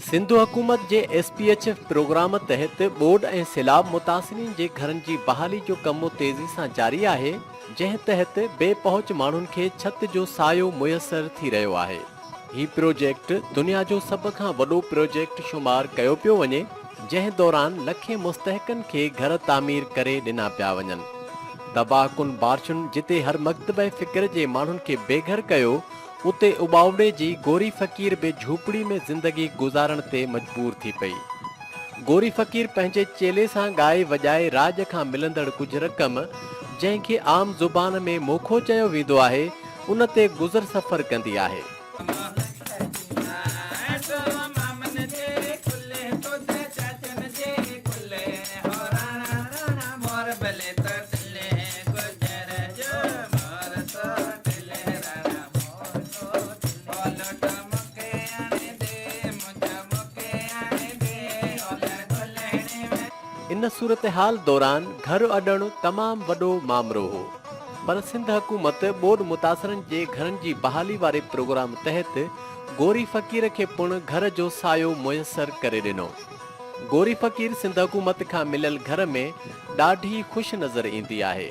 سنڌ حڪومت جي S P H F programme تحت ٻوڏ ۽ سيلاب متاثرين جي گهرن جي بحالي جو ڪم تيزي سان جاري آهي، جنهن تحت بي پهچ ماڻهن کي ڇت جو سايو ميسر ٿي رهيو آهي. هي پروجيڪٽ دنيا جو سڀ کان وڏو پروجيڪٽ شمار ڪيو پيو وڃي، جنهن دوران لکين مستحقن کي گهر تعمير ڪري ڏنا پيا وڃن. تباهه ڪن بارشن جتي هر مڪتبه فڪر جي ماڻهن کي بي گهر ڪيو، اتي اٻاوڙي جي گوري فقير به جهوپڙي ۾ زندگي گذارڻ تي مجبور ٿي پئي. گوري فقير پنهنجي چيلي سان ڳائي وڄائي راڄ کان ملندڙ ڪجهه رقم، جنهن کي عام زبان ۾ موکو چيو ويندو آهي، ان تي گذر سفر ڪندي آهي. ان صورتحال دوران گهر اڏڻ تمام وڏو مامرو هو پر سنڌ حڪومت ٻوڏ متاثرن جي گهرن جي بحالي واري پروگرام تحت گوري فقير کي پڻ گهر جو سايو ميسر ڪري ڏنو. گوري فقير سنڌ حڪومت کان مليل گهر ۾ ڏاڍي خوش نظر ايندي آهي.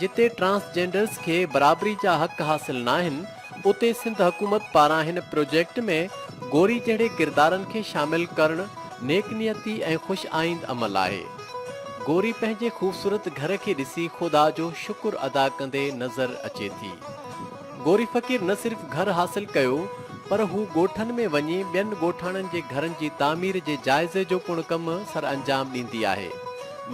جتي ٽرانسجينڊرز کي برابري جا حق حاصل ناهن، اتي سنڌ حڪومت پاران هن پروجيڪٽ ۾ گوري جهڙي ڪردارن کي شامل ڪرڻ نيڪ نيتي ۽ خوش آئيند عمل آهي. گوري پنهنجي خوبصورت گهر کي ڏسي خدا جو شڪر ادا ڪندي نظر اچي ٿي. گوري فقير نه صرف گهر حاصل ڪيو پر هو ڳوٺن ۾ وڃي ٻين ڳوٺاڻن جي گهرن جي تعمير جي جائزي جو پڻ ڪم سر انجام ڏيندي آهي.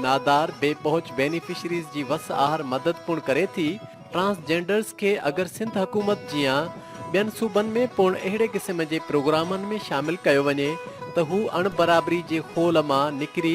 نادار، بي پهچ بينيفشريز جي وس آهر مدد پڻ ڪري ٿي. ٽرانس جينڊرز کي اگر سنڌ حڪومت جيان ٻين صوبن ۾ پڻ اهڙي قسم جي پروگرامن ۾ شامل ڪيو وڃي ته هو اڻ برابري جي خول مان نڪري